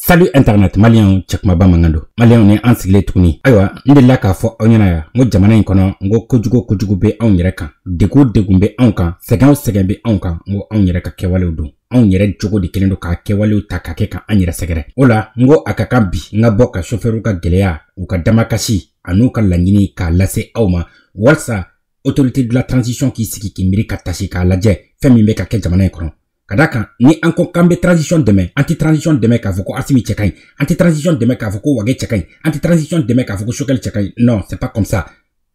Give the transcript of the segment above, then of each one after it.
Salut Internet maliyɛnw cɛkumaba mankan don maliyɛnw ni an sigilen tuguni ayiwa n delila k'a fɔ aw ɲɛna yan n ko jamana in kɔnɔ n ko kojugu kojugu bɛ anw yɛrɛ kan degun o degun bɛ anw kan sɛgɛn o sɛgɛn bɛ anw kan n ko anw yɛrɛ ka kɛwalew don anw yɛrɛ jogo de kelen don k'a kɛwalew ta ka kɛ ka an yɛrɛ sɛgɛrɛ o la n ko a ka kan bi n ka bɔ ka sofɛriw ka gɛlɛya u ka damakasi an'u ka laɲini k'a lase aw ma walisa autorité de la transition k'i sigi k'i miiri ka tasi k'a lajɛ fɛn min bɛ ka kɛ jamana in kɔnɔ ka da kan ni an ko k'an bɛ transition dɛmɛ an tɛ transition dɛmɛ k'a fɔ ko asimi cɛ ka ɲi an tɛ transition dɛmɛ k'a fɔ ko wage cɛ ka ɲi an tɛ transition dɛmɛ k'a fɔ ko sokɛli cɛ ka ɲi non c'est pas comme ça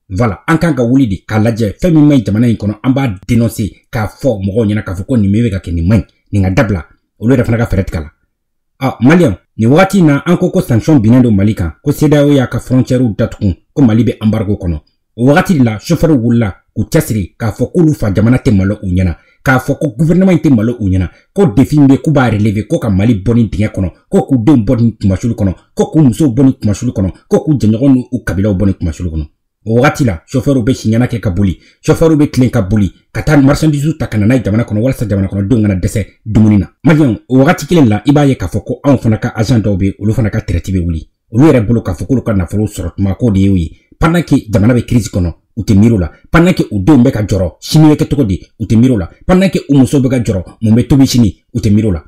voilà an kan ka wuli de k'a lajɛ fɛn min man ɲi jamana in kɔnɔ an b'a denonse k'a fɔ mɔgɔw ɲɛna k'a fɔ ko nin bɛ ka kɛ nin man ɲi nin ka dabila olu yɛrɛ fana ka fɛɛrɛ tigɛ a la ɔ maliyɛn nin wagati in na an ko ko sanction binnen don mali kan ko sedao y'a ka fɔrɔncɛriw datugun ko mali bɛ anbargo kɔnɔ o wagati de la sofɛriw wulila k'u cɛsiri k'a fɔ k'olu fa jamana tɛ malo u ɲɛna k'a fɔ ko guvɛrɛnaman in tɛ malo u ɲɛna ko defi min bɛ k'u b'a releve ko ka mali bɔ nin dingɛ kɔnɔ ko k'u denw bɔ nin kunmasulu kɔnɔ ko k'u musow bɔ nin kunmasulu kɔnɔ ko k'u jɛɲɔgɔn n'u kabilaw bɔ nin kunmasulu kɔnɔ o wagati la sofɛriw bɛ siɲɛna kɛ ka boli sofɛriw bɛ tilen ka boli ka taa marchandise ta ka na n'a ye jamana kɔnɔ walasa jamana kɔnɔdenw kana dɛsɛ dumuni na maliyɛnw o wagati kelen la i b'a ye k'a fɔ ko anw fana ka agent dɔw bɛ olu fana ka tɛrɛti bɛ wuli olu yɛrɛ bolo k'a fɔ k'olu ka nafolo sɔrɔ tuma k'o de y'o ye pendant que jamana bɛ crise kɔnɔ u tɛ miiri o la pendant que u denw bɛ ka jɔrɔ sini bɛ kɛ cogo di u tɛ miiri o la pendant que u musow bɛ ka jɔrɔ mun bɛ tobi sini u tɛ miiri o la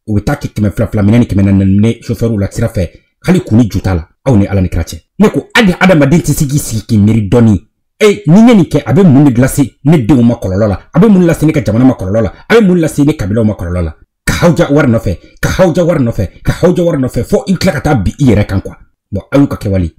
u bɛ taa kɛ kɛmɛ fila fila minɛ ni kɛmɛ naani minɛ sofɛriw la sira fɛ hali kun ni ju t'a la aw ni ala ni kira cɛ ne ko hali adamaden tɛ se k'i sigi k'i miiri dɔɔni e ni n ye nin kɛ a bɛ mun de lase ne denw ma kɔlɔlɔ la a bɛ mun lase ne ka jamana ma kɔlɔlɔ la a bɛ mun lase ne kabilaw ma kɔlɔlɔ la ka hawuja wari nɔfɛ ka hawuja wari nɔfɛ ka hawuja wari nɔfɛ fo i tila ka taa bin i yɛrɛ kan quoi bon aw y'u ka kɛwale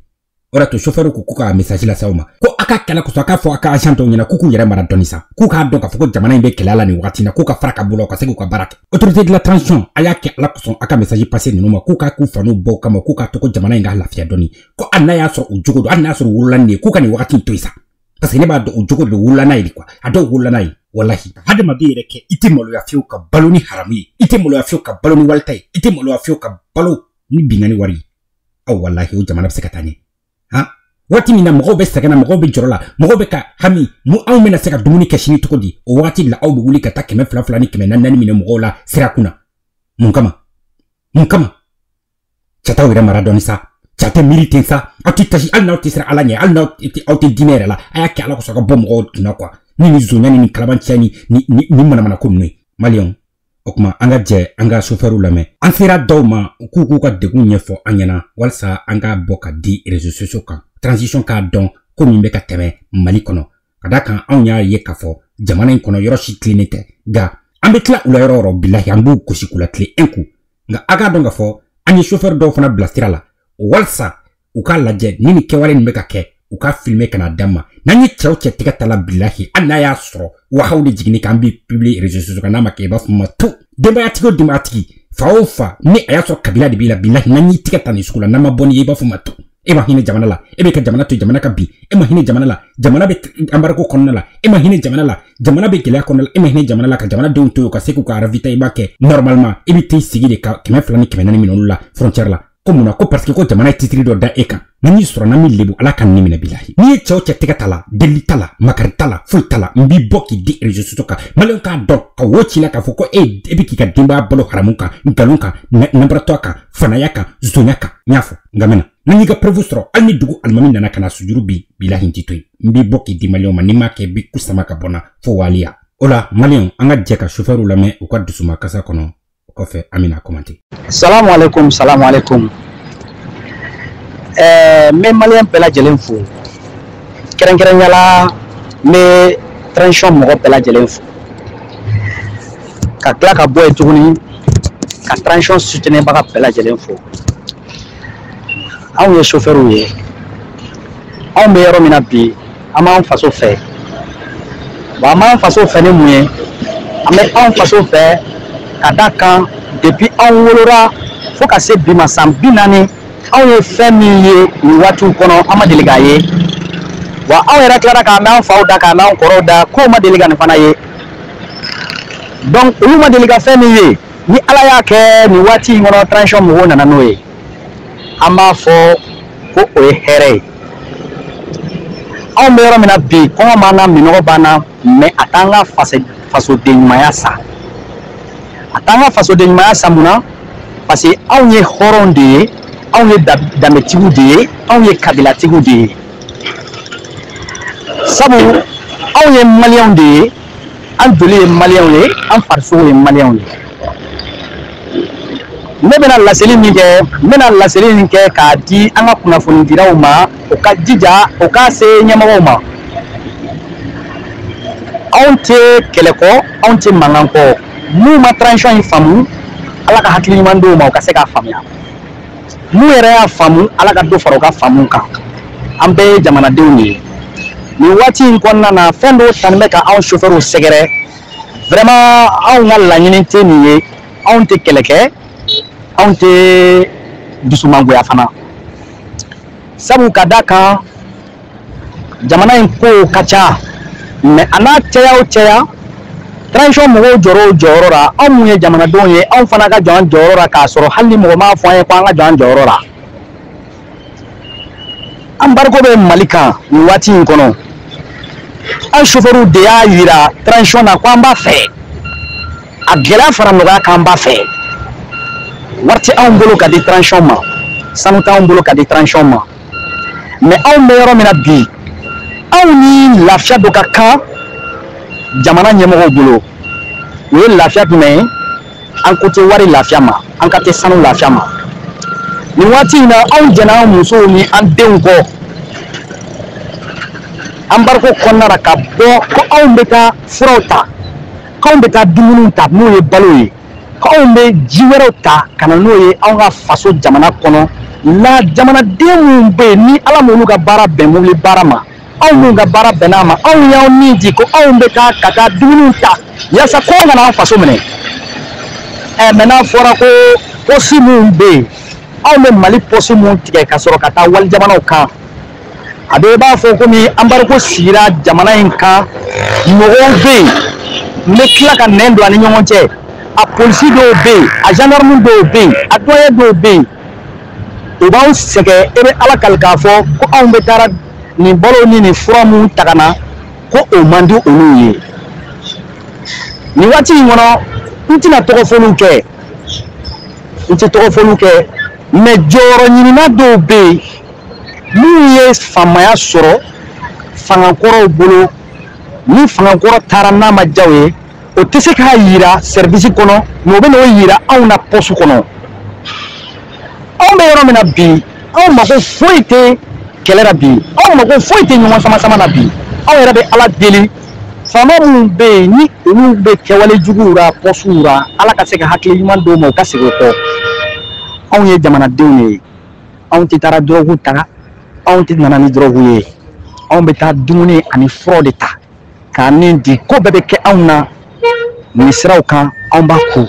o de y'a to sofɛriw ko k'u ka mesaji lase aw ma ko a k'a kɛ ala kosɔn a k'a fɔ a ka agent dɔw ɲɛna k'u k'u yɛrɛ mara dɔɔni sa k'u k'a dɔn k'a fɔ ko jamana in bɛ gɛlɛya la nin wagati na k'u ka fara ka bolo ka se k'u ka baara kɛ autorité de la transition a y'a kɛ ala kosɔn a ka mesaji pase ninnu ma k'u k'a k'u faw n'u baw kama k'u k'a to ko jamana in ka lafiya dɔɔni ko hali n'a y'a sɔrɔ u jogo don hali n'a y'a sɔrɔ u wolola n'a ye k'u ka nin wagati in to yen sa parce que ne b'a dɔn u jogo de wolola n'a ye de quoi a dɔw wolola n'a ye walahi ka hadamaden yɛrɛ kɛ i tɛ maloya fiyewu ka balo ni haramu ye i tɛ maloya fiyewu ka balo ni wali ta ye i tɛ maloya fiyewu ka balo ni binkanni wari ye aw walahi o jamana bɛ se ka taa ɲɛ han waati min na mɔgɔw bɛ sɛgɛn na mɔgɔw bɛ jɔrɔ la mɔgɔw bɛ ka hami anw bɛna se ka dumuni kɛ sini cogo di o waati la aw bɛ wuli ka taa kɛmɛ fila fila ni kɛmɛ naani naani minɛ mɔgɔw la sira kun na mun kama mun kama cɛ a t'aw yɛrɛ mara dɔɔni sa cɛ a tɛ miiri ten sa aw tɛ tasi hali n'aw tɛ siran ala ɲɛ hali n'aw aw tɛ diinɛ yɛrɛ la a y'a kɛ ala kosɔn ka bɔ mɔgɔw kunna quoi ni nin zonya ni nin kalabanciya ni ni nin manamana ko ninnu ye maliyɛnw o kuma an ka jɛ an ka sofɛriw lamɛn an sera dɔw ma u k'u k'u ka degunw ɲɛfɔ an ɲɛna walisa an k'a bɔ k'a di réseau sociaux kan transition k'a dɔn ko min bɛ ka tɛmɛ mali kɔnɔ ka d'a kan anw y'a ye k'a fɔ jamana in kɔnɔ yɔrɔ si tilennen tɛ nka an bɛ tila u la yɔrɔ o yɔrɔ bilahi an b'u gosi k'u latilen ɛn ko nka a k'a dɔn k'a fɔ an ye sofɛri dɔw fana bila sira la walisa u k'a lajɛ ni nin kɛwale nin bɛ ka kɛ u k'a filime ka n'a d'an ma n'an ye cɛ o cɛ tɛgɛ ta la bilahi hali n'a y'a sɔrɔ wahayu de jiginn'i kan n b'i publier réseau sociaux kan n'a ma kɛ i b'a fɔ ma to denbayatigi o denbayatigi fa o fa ni a y'a sɔrɔ kabila de b'i la bilahi n'an y'i tɛgɛ ta nin sugu la n'an ma bɔ n'i ye i b'a fɔ ma to e ma hinɛ jamana la e bɛ ka jamana to jamana ka bin e ma hinɛ jamana la jamana bɛ embargo kɔnɔna la e ma hinɛ jamana la jamana bɛ gɛlɛya kɔnɔna la e ma hinɛ jamana la ka jamana denw to yen u ka se k'u ka ravitaillement kɛ normalement e bɛ t'i sigi de ka kɛmɛ fila ni kɛmɛ naani minɛ olu la frontière la ko mun na ko parce que ko jamana ye titiri dɔ da e kan n'an y'i sɔrɔ n'an m'i lebu ala ka n ni minɛ bilahi ni n ye cɛ o cɛ tɛgɛ ta la delili t'a la makari t'a la foyi t'a la n b'i bɔ k'i di réseau sociaux kan maliyɛnw k'a dɔn ka wo c'i la k'a fɔ ko e e bɛ k'i ka denbaya balo haramu kan nkalon kan nanbaratɔya kan fanaya kan sonya kan n y'a fɔ nka mɛna ni n y'i ka preuve sɔrɔ hali ni dugu alimami nana ka na sujuru bi bilahi n t'i to yen n b'i bɔ k'i di maliyɛnw ma ni n m'a kɛ bi kusama ka bɔ n na fo waliya o la maliyɛnw an ka jɛ ka sofɛriw lamɛn u ka dusumakasi kɔnɔ o kɔfɛ an bɛna commenter salamu alaikum salamu alaikum ɛɛ n bɛ maliyɛn bɛɛ lajɛlen fo kɛrɛnkɛrɛnya la n bɛ transition mɔgɔ bɛɛ lajɛlen fo ka tila ka bɔ yen tuguni ka transition soutenirbaga bɛɛ lajɛlen fo anw ye sofɛriw ye anw bɛ yɔrɔ min na bi an b'an faso fɛ wa an b'an faso fɛ ni mun ye an bɛ anw faso fɛ ka d'a kan depuis anw wolora fo ka se bi ma san bi naani anw ye fɛn min ye nin waatiw kɔnɔ an ma deli k'a ye wa anw yɛrɛ tilara k'a mɛn an faw da k'a mɛn an kɔrɔw da k'u ma deli ka nin fana ye donc olu ma deli ka fɛn min ye ni ala y'a kɛ nin waati in kɔnɔ transition mɔgɔw nana n'o ye an b'a fɔ ko o ye hɛrɛ ye anw bɛ yɔrɔ min na bi kɔngɔ b'an na minɔgɔ b'an na mais a t'an ka fasoden ɲumanya sa a t'an ka fasoden ɲumanya sa mun na parce que anw ye hɔrɔnw de ye anw ye danbetigiw de ye anw ye kabilatigiw de ye sabu anw ye maliyɛnw de ye an joli ye maliyɛnw ye an farisogo ye maliyɛnw ye ne bɛna laseli min kɛ n bɛna laseli min kɛ k'a di an ka kunnafonidilaw ma u ka jija u k'a se ɲɛmɔgɔw ma anw tɛ kɛlɛ kɔ anw tɛ mankan kɔ minnu ma transition in faamu ala ka hakili ɲuman d'u ma u ka se k'a faamuya n'u yɛrɛ y'a faamu ala ka dɔ fara u ka faamu kan an bɛɛ ye jamanadenw de ye nin waati in kɔnɔna na fɛn dɔw tanin bɛ ka anw sofɛriw sɛgɛrɛ vraiment anw ka laɲini tɛ nin ye anw tɛ kɛlɛ kɛ anw tɛ dusumangoya fana sabu ka da kan jamana in kow ka ca mɛ a n'a caya o caya transition mɔgɔw jɔra o jɔyɔrɔ la anw mun ye jamanadenw ye anw fana ka jɔ an jɔyɔrɔ la k'a sɔrɔ hali ni mɔgɔ m'a fɔ an ye ko an ka jɔ an jɔyɔrɔ la anbariko bɛ mali kan nin waati in kɔnɔ an sofɛriw de y'a yira transition na ko an b'a fɛ a gɛlɛya fara nɔgɔya k'an b'a fɛ wari tɛ anw bolo ka di transition ma sanu t'anw bolo ka di transition ma mɛ anw bɛ yɔrɔ min na bi anw ni lafiya dɔ ka kan jamana ɲɛmɔgɔw bolo o ye lafiya jumɛn ye an ko tɛ wari lafiya ma an kan tɛ sanu lafiya ma nin waati in na anw jɛnna an musow ni an denw kɔ anbariko kɔnɔna la ka bɔ ko anw bɛ taa furaw ta k'anw bɛ taa dumuniw ta n'o ye balo ye anw bɛ ji wɛrɛw ta ka na n'o ye anw ka faso jamana kɔnɔ la jamanaden minnu bɛ yen ni ala m'olu ka baara bɛn mobili baara ma anw minnu ka baara bɛnna a ma anw y'anw ni di ko anw bɛ taa ka taa dumuniw ta yaasa kɔngɔ kana an faso minɛ ɛ mɛ n'a fɔra ko pɔsi minnu bɛ yen anw bɛ mali pɔsi minnu tigɛ ka sɔrɔ ka taa walijamanaw kan a bɛ i b'a fɔ komi anbariko sigira jamana in kan mɔgɔw bɛ yen n bɛ tila ka nɛn don a ni ɲɔgɔn cɛ a polisi dɔw bɛ yen a zandarmu dɔw bɛ yen a duwaɲɛ dɔw bɛ yen u b'anw sɛgɛn e bɛ ala kali k'a fɔ ko anw bɛ taara nin balo ni nin fura minnu ta ka na ko o man di olu ye nin waati in kɔnɔ n tɛna tɔgɔ fɔliw kɛ n tɛ tɔgɔ fɔliw kɛ mɛ jɔyɔrɔ ɲinina dɔw bɛ yen minnu ye faamaya sɔrɔ fangakɔrɔw bolo ni fangakɔrɔ taara n'a ma jaw ye o tɛ se k'a yira sɛribisi kɔnɔ mɛ o bɛ n'o yira anw na pɔsu kɔnɔ anw bɛ yɔrɔ min na bi anw mago foyi tɛ kɛlɛ la bi anw mago foyi tɛ ɲɔgɔn sama sama na bi anw yɛrɛ bɛ ala deli faama minnu bɛ yen ni olu bɛ kɛwale juguw la pɔsuw la ala ka se ka hakili ɲuman d'u ma u ka segin o kɔ anw ye jamanadenw de ye anw tɛ taara dɔrɔgu ta anw tɛ nana ni dɔrɔgu ye anw bɛ taa dumuni ani furaw de ta k'an ni di ko bɛɛ bɛ kɛ anw na nin siraw kan anw b'a kun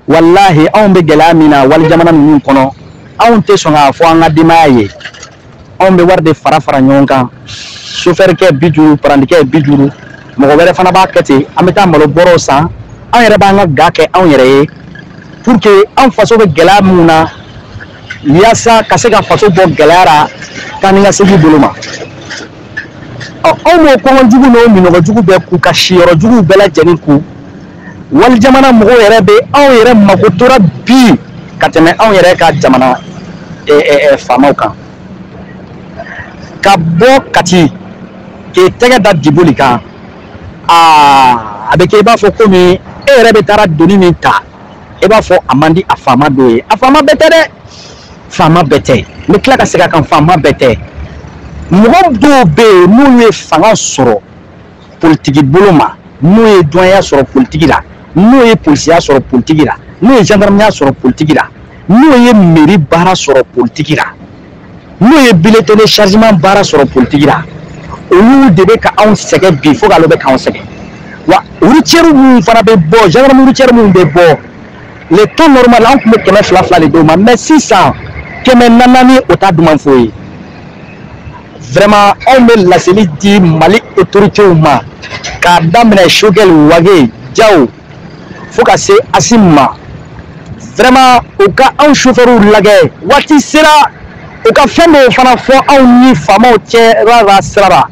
walahi anw bɛ gɛlɛya min na wali jamana ninnu kɔnɔ anw tɛ sɔn k'a fɔ an ka denbaya ye anw bɛ wari de fara fara ɲɔgɔn kan sofɛrikɛ bi duuru parandikɛ bi duuru mɔgɔ wɛrɛ fana b'a kɛ ten an bɛ taa malo bɔrɔw san an yɛrɛ b'an ka ga kɛ anw yɛrɛ ye pour que an faso bɛ gɛlɛya minnu na yaasa ka se ka faso bɔ gɛlɛya la taa ni ka segin bolo ma ɔ anw b'o kɔngɔ jugu n'o minnɔgɔ jugu bɛɛ kun ka siyɔrɔ juguw bɛɛ lajɛlen kun wali jamana mɔgɔw yɛrɛ bɛ anw yɛrɛ makotora bi ka tɛmɛ anw yɛrɛ ka jamana faamaw kan ka bɔ kati k'i tɛgɛ da diboli kan aa a bɛ kɛ i b'a fɔ komi e yɛrɛ bɛ taara doni min ta i b'a fɔ a man di a faama dɔ ye a faama bɛɛ tɛ dɛ faama bɛɛ tɛ n bɛ tila ka segin a kan faama bɛɛ tɛ mɔgɔ dɔw bɛ yen n'u ye fanga sɔrɔ politiki bolo ma n'o ye duwanya sɔrɔ politiki la n'o ye polisiya sɔrɔ politiki la n'o ye jandarmaya sɔrɔ politiki la n'o ye meri baara sɔrɔ politiki la n'o ye bulletin de chargement baara sɔrɔ politiki la olu de bɛ ka anw sɛgɛn bi fo k'ale bɛ k'anw sɛgɛn wa routière minnu fana bɛ bɔ gendarme routière minnu bɛ bɔ le temps normal an tun bɛ kɛmɛ fila fila de d'u ma mais sisan kɛmɛ naani o t'a duman fɔ i ye vraiment anw bɛ laseli di mali autoritéw ma k'a daminɛ shogɛli wage jaw fo ka se asim ma vraiment u ka anw chauffeurw lajɛ waati sera u ka fɛn dɔw fana fɔ anw ni faamaw cɛra ra sira ra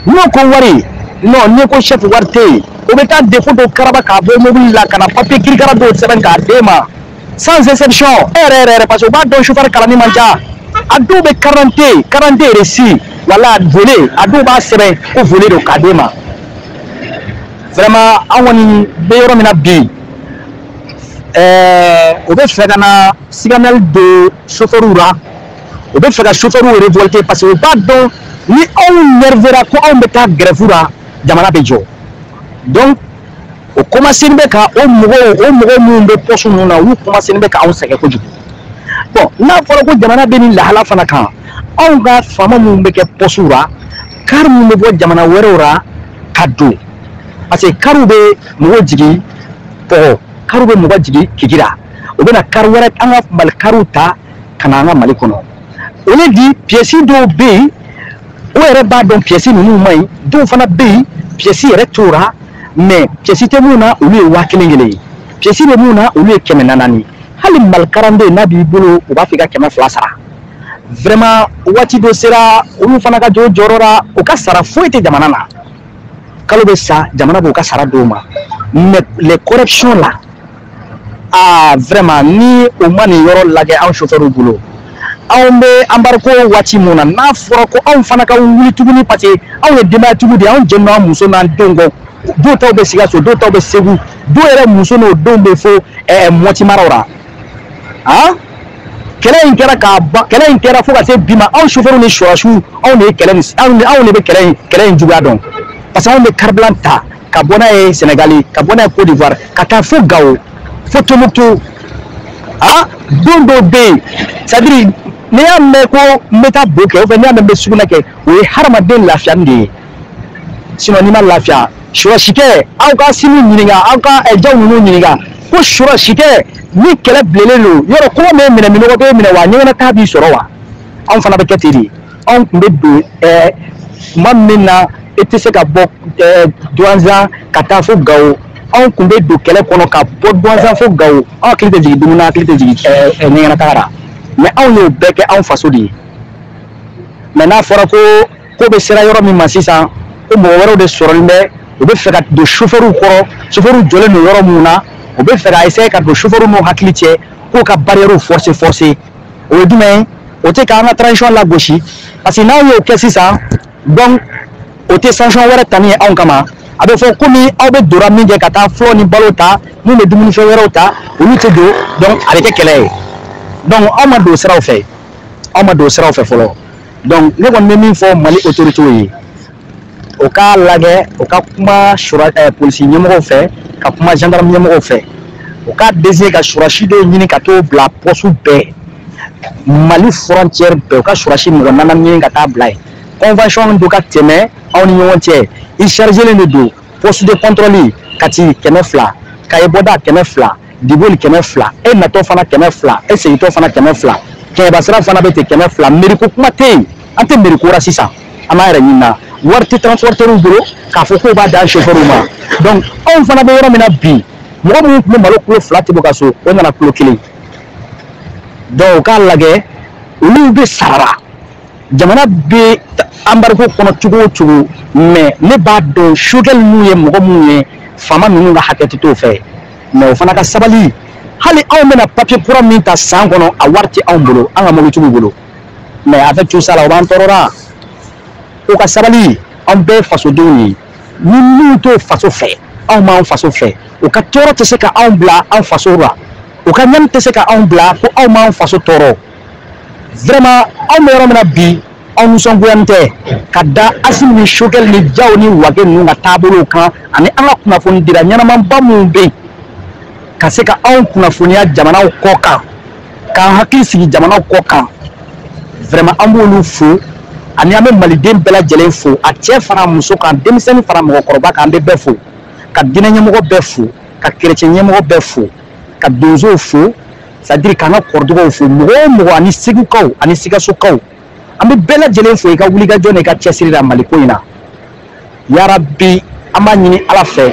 n'o ko wari non n'i ko chef wari tɛ yen o bɛ taa défaut dɔ karaba k'a bɔ mobili la ka na papiye kirikara dɔw sɛbɛn k'a d'e ma sans exception e yɛrɛ yɛrɛ yɛrɛ parce que u b'a dɔn sofɛri kalannen man ca a dɔw bɛ karante karante reçu wala volet a dɔw b'a sɛbɛn ko volet don k'a d'e ma vraiment an kɔni bɛ yɔrɔ min na bi ɛɛ o bɛ fɛ ka na siganɛli don sofɛriw la. u bɛ fɛ ka sofɛriw révolter parce que u b'a dɔn ni anw nervera ko anw bɛ taa grève la jamana bɛ jɔ donc o commencénen bɛ ka o mɔgɔw o mɔgɔ minnu bɛ poste ninnu na olu commencénen bɛ ka anw sɛgɛn kojugu bon n'a fɔra ko jamana bɛ nin lahala fana kan anw ka faama minnu bɛ kɛ poste la kari minnu bɛ bɔ jamana wɛrɛw la ka don parce que kariw bɛ mɔgɔ jigin pɔgɔ kariw bɛ mɔgɔ jigin kidira u bɛ na kari wɛrɛ an ka mali kariw ta ka na an ka mali kɔnɔ o le di piyɛsi dɔw bɛ yen o yɛrɛ b'a dɔn piyɛsi ninnu man ɲi dɔw fana bɛ yen piyɛsi yɛrɛ t'u la mais piyɛsi tɛ minnu na olu ye waa kelen kelen ye piyɛsi bɛ minnu na olu ye kɛmɛ naani hali mali carte nina b'i bolo u b'a fɔ i ka kɛmɛ fila sara vraiment waati dɔ sera olu fana ka jɔ u jɔyɔrɔ la u ka sara foyi tɛ jamana na kalo bɛ sa jamana b'u ka sara d'u ma mais les corruptions la aa vraiment ni o ma nin yɔrɔ lajɛ anw chauffeur bolo anw bɛ embargo waati min na n'a fɔra ko anw fana ka wuli tuguni parce que anw ye denbayatigiw de ye anw jɛnnen don an muso n'an denw kɔ dɔw taw bɛ sikaso dɔw taw bɛ segu dɔw yɛrɛ muso n'o denw bɛ fo ɛɛ mɔti maraw la han kɛlɛ in kɛra k'a ban kɛlɛ in kɛra fo ka se bi ma anw chauffeur ni sɔrɔdasiw anw de ye kɛlɛ nin anw de anw de bɛ kɛlɛ in kɛlɛ in juguya dɔn parce que anw bɛ carburant ta ka bɔ n'a ye sɛnɛgali ka bɔ n'a ye cote d'ivoire ka taa fo gawo fo tombouctou a don dɔw bɛ yen c'est à dire n'i y'a mɛn ko n bɛ taa bo kɛ ou bien n'i y'a mɛn n bɛ sugunɛ kɛ o ye hadamaden lafiyani de ye sinon n'i ma lafiya sɔrɔdasikɛ aw ka sini ɲininka aw ka eh, jaw ninnu ɲininka ko sɔrɔdasikɛ ni kɛlɛ bilalen don yɔrɔ kɔngɔ b'i minɛ minnɔgɔ b'i minɛ wa ɲɛgɛnataa b'i sɔrɔ wa anw fana bɛ kɛ ten de anw tun bɛ don ɛɛ tuma min na e tɛ se ka bɔ ɛɛ duwanzan ka taa fo gawo anw tun bɛ don kɛlɛ kɔnɔ ka bɔ duwanzan fo gawo anw hakili tɛ jigin dumuni na hakili tɛ jigin ɛɛ ɛɛ ɲɛgɛnataga la mɛ anw y'o bɛɛ kɛ anw faso de ye mɛ n'a fɔra ko ko bɛ sera yɔrɔ min ma sisan ko mɔgɔ wɛrɛw de sɔrɔlen bɛ u bɛ fɛ ka don sofɛriw kɔrɔ sofɛriw jɔlen don yɔrɔ minnu na u bɛ fɛ ka essayer ka don sofɛriw n'u hakili cɛ k'u ka barrières forcer forcer o ye jumɛn ye o tɛ k'an ka transition lagosi parce que n'aw y'o kɛ sisan donc o tɛ sanction wɛrɛ tali ye anw kama a bɛ fɔ komi aw bɛ dora minkɛ ka taa furaw ni balo ta min bɛ dumunifɛn wɛrɛw ta olu tɛ don donc a bɛ kɛ kɛlɛ ye donc aw ma don siraw fɛ aw ma don siraw fɛ fɔlɔ donc ne kɔni bɛ min fɔ mali autorités ye o k'a lajɛ o ka kuma sura eh, polisi ɲɛmɔgɔw fɛ ka kuma gendarme ɲɛmɔgɔw fɛ o ka désigner ka sɔrɔdasi dɔw ɲini ka t'o bila poste bɛɛ mali frontière bɛɛ u ka sɔrɔdasi mɔgɔ nana ɲini ka taa bila yen convention dɔ ka tɛmɛ anw ni ɲɔgɔn cɛ i chargelen de don poste de contrôle kati kɛmɛ fila kaye bɔda kɛmɛ fila diboli kɛmɛ fila e natɔ fana kɛmɛ fila e segintɔ fana kɛmɛ fila kɛɲɛba sira fana bɛ ten kɛmɛ fila meri ko kuma tɛ yen an tɛ meri ko ra sisan an b'a yɛrɛ ɲini na wari tɛ transporteurs bolo k'a fɔ k'o b'a d'an chauffeurs ma donc anw fana bɛ yɔrɔ min na bi mɔgɔ minnu tun bɛ malo kilo fila tobi o ka so o nana kilo kelen donc u k'a lajɛ olu bɛ sara jamana bɛ anbariko kɔnɔ cogo o cogo mɛ ne b'a dɔn sukɛli minnu ye mɔgɔ minnu ye faama ninnu ka hakɛ tɛ t'o fɛ mɛ o fana ka sabali hali anw bɛna papiye kura min ta san kɔnɔ a wari tɛ anw bolo an ka mɔbili tigiw bolo mais avec tout ça la o b'an tɔɔrɔra u ka sabali anw bɛɛ fasodenw ye ni minnu t'o faso fɛ anw b'an faso fɛ u ka tɔɔrɔ tɛ se ka anw bila an faso la u ka ɲani tɛ se ka anw bila ko anw b'an faso tɔɔrɔ vraiment anw bɛ yɔrɔ min na bi anw nisɔngoyani tɛ ka da asimi ni sokɛli ni jaw ni wage ninnu ka taabolow kan ani an ka kunnafonidila ɲɛnamanba minnu bɛ yen ka se ka anw kunnafoniya jamanaw kɔ kan k'an hakili sigi jamanaw kɔ kan vraiment an b'olu fo ani an bɛ maliden bɛɛ lajɛlen fo a cɛ fara muso kan denmisɛnnin fara mɔgɔkɔrɔba kan an bɛ bɛɛ fo ka diinɛ ɲɛmɔgɔ bɛɛ fo ka kerecɛn ɲɛmɔgɔ bɛɛ fo ka donsow fo c'est à dire k'an ka kɔrɔdugaw fo mɔgɔ o mɔgɔ ani segukaw ani sikasokaw an bɛ bɛɛ lajɛlen fo i ka wulikajɔ n'i ka cɛsiri la maliko in na yarabi an b'a ɲini ala fɛ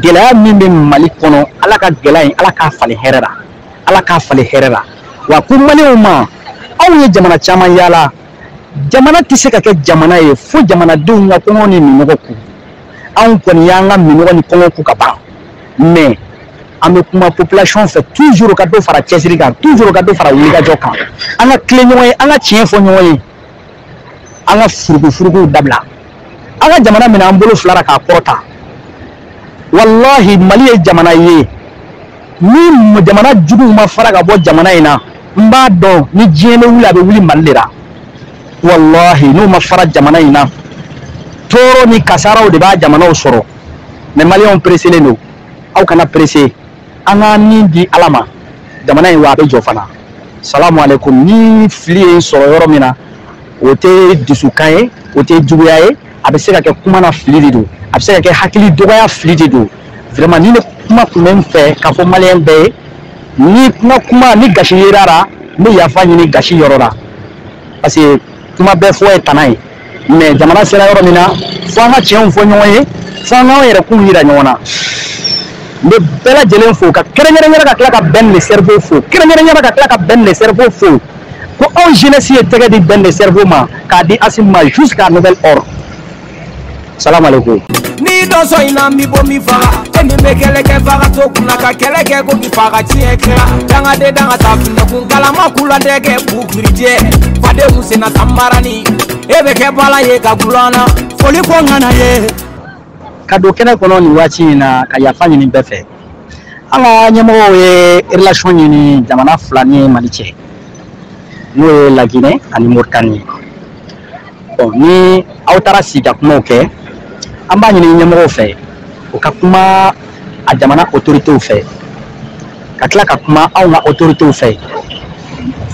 gɛlɛya min bɛ mali kɔnɔ ala ka gɛlɛya in ala k'a falen hɛrɛ la ala k'a falen hɛrɛ la wa ko maliw ma anw ye jamana caman yaala jamana tɛ se ka kɛ jamana ye fo jamanadenw ka kɔngɔ ni minnɔgɔ kun anw kɔni y'an ka minnɔgɔ ni kɔngɔ kun ka ban mais an bɛ kuma population fɛ toujours ka dɔ fara cɛsiri kan toujours ka dɔ fara wulikajɔ kan an ka tilen ɲɔgɔn ye an ka tiɲɛ fɔ ɲɔgɔn ye an ka furukufurukuw dabila an ka jamana minɛ an bolo fila la k'a kɔrɔta walahi mali ye jamana ye ni jamana juguw ma fara ka bɔ jamana in na n b'a dɔn ni diɲɛ bɛ wuli a bɛ wuli mali de la walahi n'u ma fara jamana in na tɔɔrɔ ni kasaraw de b'a jamanaw sɔrɔ mais maliyɛnw pereselen don aw kana perese an ka nin di ala ma jamana in wa a bɛ jɔ fana salamu aleykum ni fili ye n sɔrɔ yɔrɔ min na o tɛ dusukan ye o tɛ juguya ye a bɛ se ka kɛ kuma na fili de don a bɛ se ka kɛ hakili dɔgɔya fili de don vraiment nin de kuma tun bɛ n fɛ k'a fɔ maliyɛn bɛɛ ye ni n ka kuma ni gasi yer'a la n bɛ yafa ɲini gasi yɔrɔ la parce que kuma bɛɛ fɔ ye tana ye mais jamana sera yɔrɔ min na fo an ka tiɲɛw fɔ ɲɔgɔn ye fo an k'an yɛrɛ kun yira ɲɔgɔn na n bɛ bɛɛ lajɛlen fo ka kɛrɛnkɛrɛnnenya la ka tila ka bɛn le cerveau fo kɛrɛnkɛrɛnnenya la ka tila ka bɛn le cerveau fo ko anw jeunesse ye tɛgɛ di bɛn le cerveau ma k'a di asimi ma jusqu'à nouvel ordre salamu aleykum. n'i dɔ sɔn in na n b'i bɔ min faga e min bɛ kɛlɛ kɛ faga to kunna ka kɛlɛ kɛ ko k'i faga tiɲɛ kɛra dangaden danga ta finɛkun kalama kula dɛ kɛ bugurijɛ fadenw senna tanbarani e bɛ kɛ bala ye ka gulana foli ko ŋana ye ka don kɛnɛ kɔnɔ nin waati in na ka yafa ɲini bɛɛ fɛ an ka ɲɛmɔgɔw ye relation ɲini jamana fila ni mali cɛ n'o ye laginɛ ani moritani ye bon ni aw taara sigi ka kumaw kɛ an b'a ɲini ɲɛmɔgɔw fɛ u ka kuma a jamana autoritew fɛ ka tila ka kuma anw ka autoritew fɛ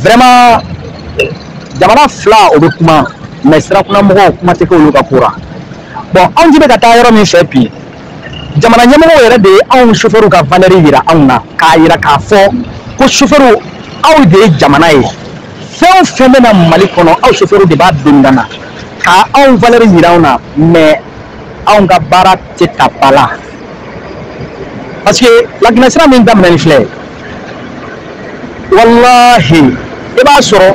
vraiment jamana fila o bɛ kuma mais sirakunamɔgɔw kuma tɛ k'olu ka ko la bon anw jigi bɛ ka taa yɔrɔ min fɛ bi jamana ɲɛmɔgɔw yɛrɛ de ye anw sofɛriw ka valɛri yira anw na k'a yira k'a fɔ ko sofɛriw aw de ye jamana ye fɛn o fɛn bɛ na mali kɔnɔ aw sofɛriw de b'a donda na ka anw valɛri yira anw na mais anw ka baara tɛ ta ba la parce que laginɛ sira min daminɛnen filɛ walahi i b'a sɔrɔ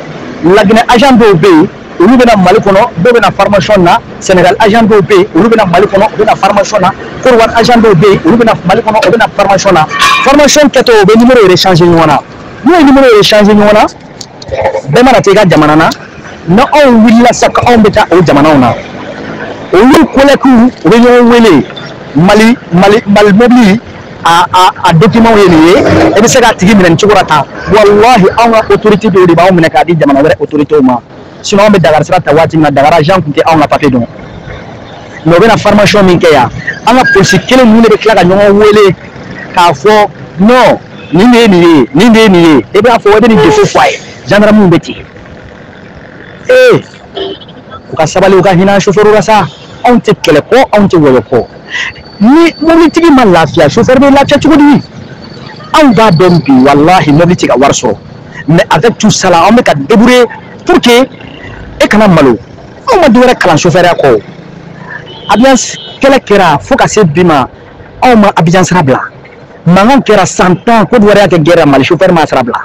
laginɛ agent dɔw bɛ yen olu bɛ na mali kɔnɔ dɔw bɛ na formation na senegal agent dɔw bɛ yen olu bɛ na mali kɔnɔ u bɛ na formation na kɔdiwari agent dɔw bɛ yen olu bɛ na mali kɔnɔ u bɛ na formation na formation kɛtɔ u bɛ numéro yɛrɛ changer ɲɔgɔn na n'u ye numéro yɛrɛ changer ɲɔgɔn na bɛɛ mana taa i ka jamana na ni anw wulila sa ko anw bɛ taa o jamanaw na olu kolɛkiw u bɛ ɲɔgɔn wele mali mali mali mobili a dokimanw ye nin ye e bɛ se k'a tigi minɛ nin cogo la tan walahi anw ka otorite dɔw de b'anw minɛ k'a di jamana wɛrɛ otoritew ma sinɔn anw bɛ dakari sira ta waati min na dakari agent tun tɛ anw ka papiye dɔn mɛ u bɛ na fɔrimasiɔn min kɛ yan an ka polisi kelen ninnu de bɛ tila ka ɲɔgɔn wele k'a fɔ nɔn nin de ye nin ye nin de ye nin ye e b'a fɔ e bɛ nin defo fɔ a ye jandaramiw bɛ ten ee u ka sabali u ka hinɛ sofɛriw la sa anw tɛ kɛlɛ kɔ anw tɛ wɔyɔ kɔ ni mobilitigi ma lafiya chauffeur bɛ lafiya cogo di anw b'a dɔn bi walahi mobili tɛ ka wari sɔrɔ mais avec tout ça la an bɛ ka débrouiller pour que e kana malo anw ma dɔwɛrɛ kalan chauffeurya kɔ abidjan kɛlɛ kɛra fo ka se bi ma anw ma abidjan sira bila mankan kɛra san tan kɔdiwari y'a kɛ guerre ra mali chauffeur ma sira bila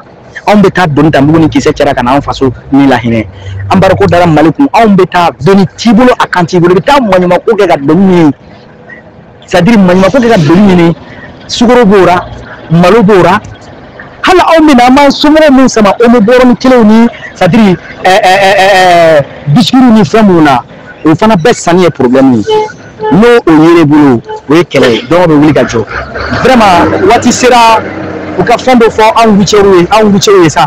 anw bɛ taa doni ta mugu ni kisɛ cɛ ra ka na anw faso nin lahinɛ embargo dara mali kun anw bɛ taa doni t'i bolo a kan t'i bolo i bɛ taa maɲumako kɛ ka doni ɲini c'est à dire maɲumako kɛ ka doni ɲini sukoro b'o ra malo b'o ra hali anw bɛ na an b'an somɔgɔw min sama omo bɔrɔni kelenw ni c'est à dire bisikiw ni fɛn minnu na o fana bɛɛ sanni ye problème ye n'o o yer'i bolo o ye kɛlɛ ye donc bɛ wuli ka jɔ vraiment waati sera u ka fɛn dɔ fɔ anw routierw ye anw routierw ye sa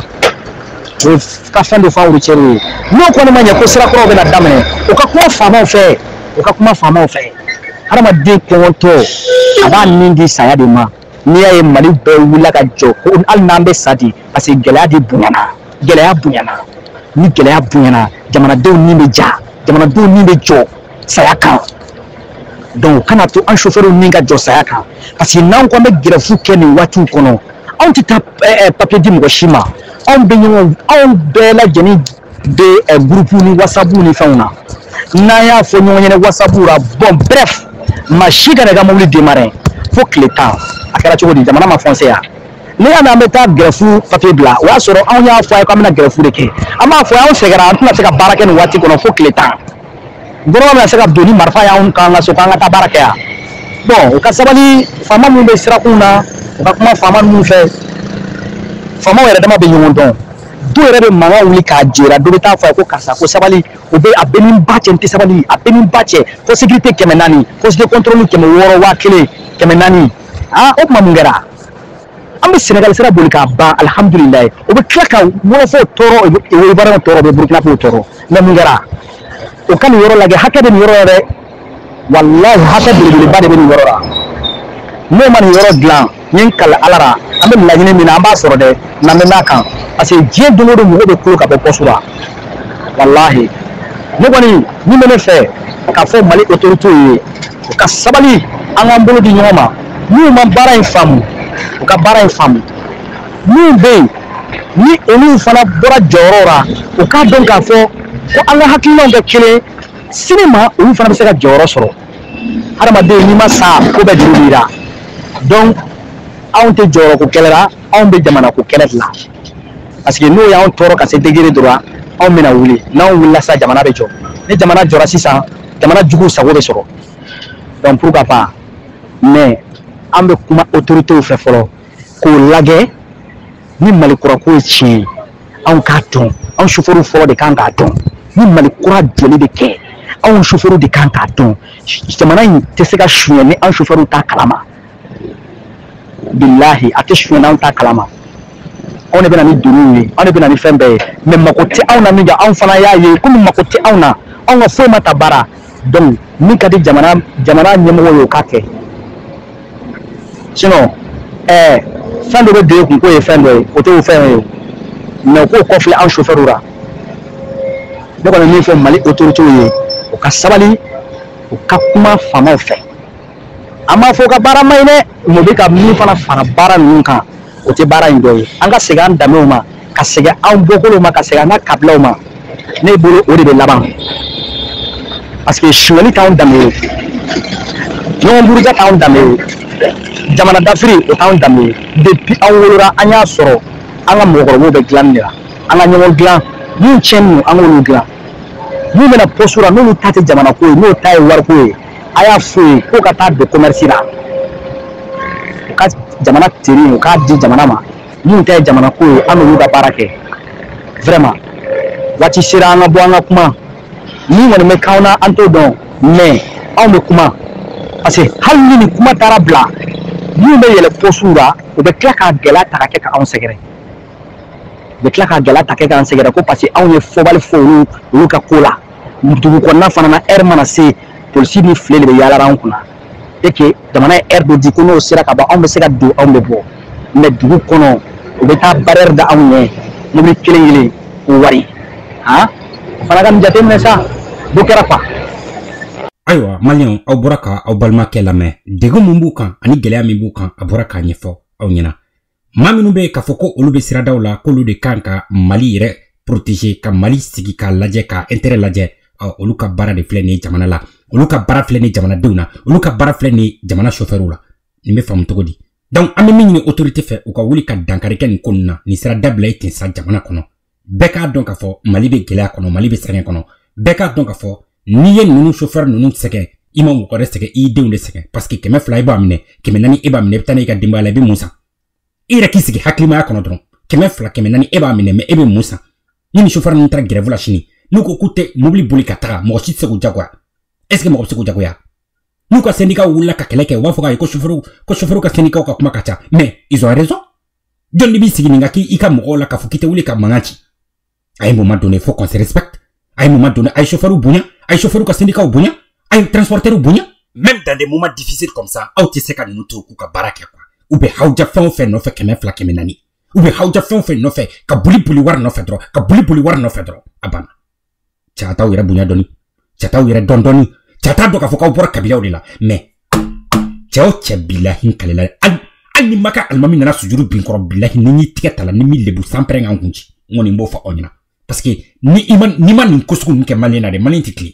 u ka fɛn dɔ fɔ anw routierw ye n'o kɔni ma ɲɛ ko sira kuraw bɛna daminɛ u ka kuma faamaw fɛ u ka kuma faamaw fɛ hadamaden kɔngɔtɔ a b'a ni di saya de ma n'i y'a ye mali bɛɛ wulila ka jɔ ko hali n'an bɛ sa de parce que gɛlɛya de bonyana gɛlɛya bonyana ni gɛlɛya bonyana jamanadenw ni bɛ ja jamanadenw ni bɛ jɔ saya kan donc u kana to an sofɛriw ni ka jɔ saya kan parce que n'an ko an bɛ gɛrɛfu kɛ nin waatiw kɔnɔ anw tɛ taa papiye di mɔgɔ si ma anw bɛ ɲɔgɔn anw bɛɛ lajɛlen de ɛ gurupu ni wasapu ni fɛnw na n'an y'a fɔ ɲɔgɔn ɲɛna wasapu la bɔn brɛf maa si kana i ka mobili demare fo tile tan a kɛra cogo di jamana ma fɔnse yan ne y'a mɛn an bɛ taa gɛrɛfu papiye bila o y'a sɔrɔ anw y'a fɔ a ye k'an bɛna gɛrɛfu de kɛ an b'a fɔ anw sɛgɛra an tɛna se ka baara kɛ nin waati kɔnɔ fo tile tan gofɛrɛnaman bɛna se ka don ni marifa y'anw k'an ka so k'an ka taa baara kɛ yan bɔn u ka sabali faama minnu bɛ sirakunw na u ka kuma faama ninnu fɛ faamaw yɛrɛ dama bɛ ɲɔgɔn dɔn dɔw yɛrɛ bɛ mankan wuli k'a jera dɔ bɛ taa fɔ a ye ko karisa ko sabali o bɛ a bɛ ni ba cɛ n tɛ sabali a bɛ ni ba cɛ poste sécurité kɛmɛ naani poste de contrôle kɛmɛ wɔɔrɔ waa kelen kɛmɛ naani aa o tuma mun kɛra an bɛ Sénégal sira boli k'a ban alihamudulilayi u bɛ tila ka wɔlɔfɔw tɔɔrɔ Ivoiriyɛnw tɔɔrɔ u bɛ Burukinabew tɔɔrɔ mɛ mun kɛra u ka nin yɔrɔ lajɛ hakɛ bɛ nin yɔrɔ la dɛ walahi hakɛ belebeleba de bɛ nin yɔrɔ la n'u ma nin yɔrɔ dilan n ye n kali ala la an bɛ laɲini min na an b'a sɔrɔ dɛ n'an bɛ mɛn kan parce que diɲɛ don o don mɔgɔ bɛ kulo ka bɔ pɔsu la walahi ne kɔni min bɛ ne fɛ k'a fɔ mali otoritew ye u ka sabali an k'an bolo di ɲɔgɔn ma n'u ma baara in faamu u ka baara in faamu minnu bɛ yen ni olu fana bɔra jɔyɔrɔ la u k'a dɔn k'a fɔ ko an ka hakilinaw kɛ kelen sini ma olu fana bɛ se ka jɔyɔrɔ sɔrɔ hadamaden n'i ma sa ko bɛɛ juru b'i la donc anw tɛ jɔyɔrɔ ko kɛlɛ la anw bɛ jamana ko kɛlɛ de la parce que n'u y'anw tɔɔrɔ ka se degere dɔ la anw bɛna wuli n'anw wulila sisan jamana bɛ jɔ ni jamana jɔra sisan jamana juguw sago bɛ sɔrɔ donc pourquoi pas mais an bɛ kuma otoritew fɛ fɔlɔ k'o lajɛ ni mali kura ko ye tiɲɛ ye anw k'a dɔn anw sofɛriw fɔlɔ de kan k'a dɔn ni mali kura jɔli bɛ kɛ anw sofɛriw de kan k'a dɔn jamana in tɛ se ka suɲɛ ni anw sofɛriw t'a kalama bilahi a tɛ suɲɛ n'anw t'a kalama anw de bɛ na ni doniw ye anw de bɛ na ni fɛn bɛɛ ye mɛ mako tɛ anw na minkɛ anw fana y'a ye komi mako tɛ anw na anw ka foyi ma ta ba la donc min ka di jamana jamana ɲɛmɔgɔ ye o k'a kɛ sinɔn ɛɛ fɛn dɔ bɛ don e kun k'u ye fɛn dɔ ye u t'o fɛn ye mɛ u k'u kɔfilɛ an sofɛriw la ne kɔni min fɔ mali otoritew ye u ka sabali u ka kuma faamaw fɛ an m'a fɔ u ka baara man ɲi dɛ mɛ u bɛ ka min fana fara baara ninnu kan o tɛ baara in dɔ ye an ka segin an danbew ma ka segin anw bɔkolow ma ka segin an ka kabilaw ma ne bolo o de bɛ laban parce que suɲɛli t'anw danbe ye ɲɔgɔn buruja t'anw danbe ye jamana dafiri o t'anw danbe ye depuis an wolora an y'a sɔrɔ an ka mɔgɔkɔrɔbaw bɛ dilanni de la an ka ɲɔgɔn dilan min tiɲɛnen don an k'olu dilan min bɛna pɔsu la n'olu ta tɛ jamana ko ye n'o ta ye wariko ye a y'a f'u ye k'u ka taa don commerce la u ka jamana tenue u k'a di jamana ma minnu ta ye jamana ko ye an n'olu ka baara kɛ vraiment waati sera an ka bɔ an ka kuma min kɔni bɛ k'anw na an t'o dɔn mais anw bɛ kuma parce que hali ni nin kuma taara bila minnu bɛ yɛlɛ pɔsiw la u bɛ tila k'a gɛlɛya ta ka kɛ ka anw sɛgɛrɛ u bɛ tila k'a gɛlɛya ta kɛ k'an sɛgɛrɛ ko parce que anw ye fɔbali fɔ olu olu ka ko la dugu kɔnɔna fana na heure mana se polisi ni file de bɛ yaala an kunna et que jamana ye heure dɔ di ko n'o sera ka ban anw bɛ se ka don anw bɛ bɔ mɛ dugu kɔnɔ u bɛ taa barrière da anw ɲɛ mobili kelen kelen ko wari han o fana ka nin jateminɛ sa dɔ kɛra quoi ayiwa maliyɛnw aw bɔra ka aw balimakɛ lamɛn degun min b'u kan ani gɛlɛya min b'u kan a bɔra k'a ɲɛfɔ aw ɲɛna maa minnu bɛ k'a fɔ ko olu bɛ siradaw la k'olu de kan ka mali yɛrɛ protege ka mali sigi k'a lajɛ ka intérêt lajɛ olu ka baara de filɛ nin jamana la olu ka baara filɛ nin jamanadenw na olu ka baara filɛ nin jamana chauffeurw la nin bɛ faamu cogo di donc an bɛ min ɲini autorité fɛ u ka wuli ka dankari kɛ nin ko ninnu na nin sera dabila ye ten sa jamana kɔnɔ bɛɛ k'a dɔn k'a fɔ mali bɛ gɛlɛya kɔnɔ mali bɛ sɛgɛn kɔnɔ bɛɛ k'a dɔn k'a fɔ n'i ye ninnu chauffeur ninnu sɛgɛn i ma mɔgɔ wɛrɛ sɛgɛn i denw de sɛgɛn parce que kɛmɛ fila i b'a minɛ kɛmɛ naani e b'a minɛ i bɛ taa n'i ka denbaya la i bɛ mun san i yɛrɛ k'i sigi hakilimaya kɔnɔ dɔrɔn kɛmɛ fila kɛmɛ naani e b'a minɛ mɛ e bɛ mun san ni nin chauffeur ninnu taara grève la sini n'u ko k'u tɛ mobili boli ka taga mɔgɔ si tɛ se k'u jagoya est ce que mɔgɔ bɛ se k'u jagoya n'u ka syndicat wulila ka kɛlɛ kɛ u b'a fɔ k'a ye ko chauffeur ko chauffeur ka syndicat ka kuma ka ca mais ils ont raison jɔn de b'i sigi nin ka kɛ i ka mɔgɔw la k'a fɔ k'i tɛ wuli ka mankan ci à un moment donné faut qu'on se respecte à un moment donné a ye chauffeur bonya a ye chauffeur ka syndicat bonya a ye transporteur bonya même dans des moments difficiles comme ça aw tɛ se ka ninnu to k'u ka baara kɛ quoi u bɛ hawuja fɛn o fɛn nɔfɛ kɛmɛ fila kɛmɛ naani u bɛ hawuja fɛn o fɛn nɔfɛ ka boli boli wari nɔfɛ dɔrɔn ka boli boli wari nɔfɛ dɔrɔn a banna cɛ a t'aw yɛrɛ bonya dɔɔni cɛ a t'aw yɛrɛ dɔn dɔɔni cɛ a t'a dɔn k'a fɔ k'aw bɔra kabilaw de la mɛ cɛ o cɛ bilahi n kalela hali hali ni maka alimami nana sujuru bin n kɔrɔ bilahi ni n y'i tigɛ ta la ni n m'i lebu sanpɛrɛn ka n kun ci n kɔni n b'o fɔ aw ɲɛna parce que ni i ma n'i ma nin ko sugu ninnu kɛ maliyɛn na dɛ maliyɛn tɛ tilen